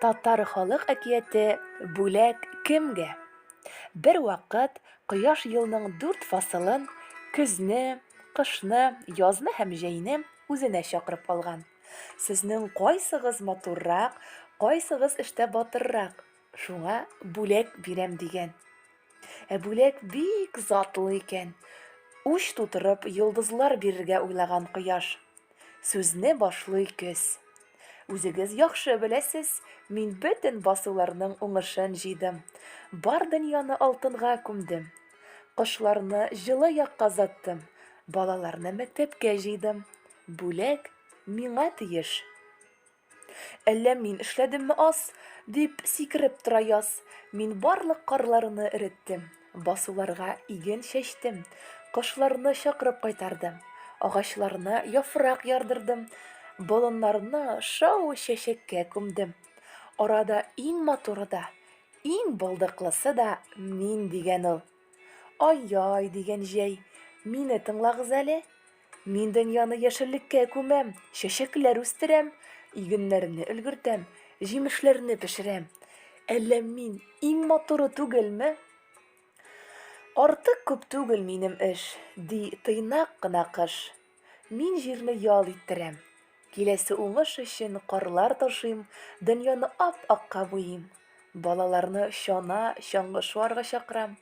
Татар халык әкияте Бүләк кемгә? Бервакыт Кояш елның дүрт фасылын, көзне, кышны, язны һәм җәйне үзенә чакырып алган. Сезнең кайсыгыз матуррак, кайсыгыз эштә батыррак, шуңа бүләк бирәм, дигән. Ә бүләк бик затлы икән. Уч тутырып, йолдызлар бирергә уйлаган Кояш, Сүзне башлый көз. Үзегез яхшы беләсез, мин бөтен басуларның уңышын җыйдым. Бар дөньяны алтынга күмдем. Кошларны җылы якка заттым. Балаларны мәктәпкә җыйдым. Бүләк миңа тиеш. Әллә мин эшләдемме аз? Дип сикереп тора яз. Мин барлык карларны эреттем. Басуларга иген чәчтем. Кошларны чакырып кайтардым. Агачларына яфрак ярдырдым. Болыннарны шау чәчәккә күмдем. Арада иң матуры да, иң булдыклысы да мин дигән ул. Ай-яй, дигән җәй, мине тыңлагыз әле. Мин дөньяны яшеллеккә күмәм, чәчәкләр үстерәм, игеннәрне өлгертәм, җимешләрне пешерәм. Әллә мин иң матуры түгелме? Артык күп түгел минем эш, ди тыйнак кына кыш. Мин җирне ял иттерәм. Киләсе уңыш өчен карлар ташыйм, дөньяны ап-акка буйыйм. Балаларны чана, чаңгы шуарга чакырам.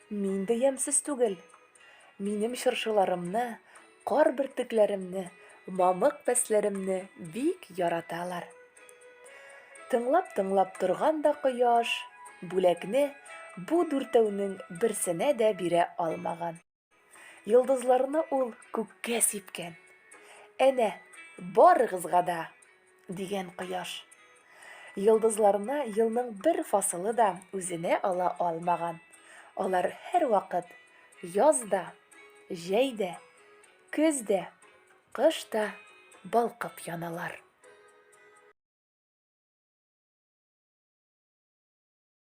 Мин дә ямьсез түгел. Минем чыршыларымны, кар бөртекләремне, мамык пәсләремне бик яраталар. Тыңлап-тыңлап торган да кояш, бүләкне бу дүртәүнең берсенә дә бирә алмаган. Йолдызларны ул күккә сипкән. Әнә, барыгызга да, дигән кояш. Йолдызларны елның бер фасылы да үзенә ала алмаган. Алар һәрвакыт яз да, җәй дә, көз дә, кыш та балкып яналар.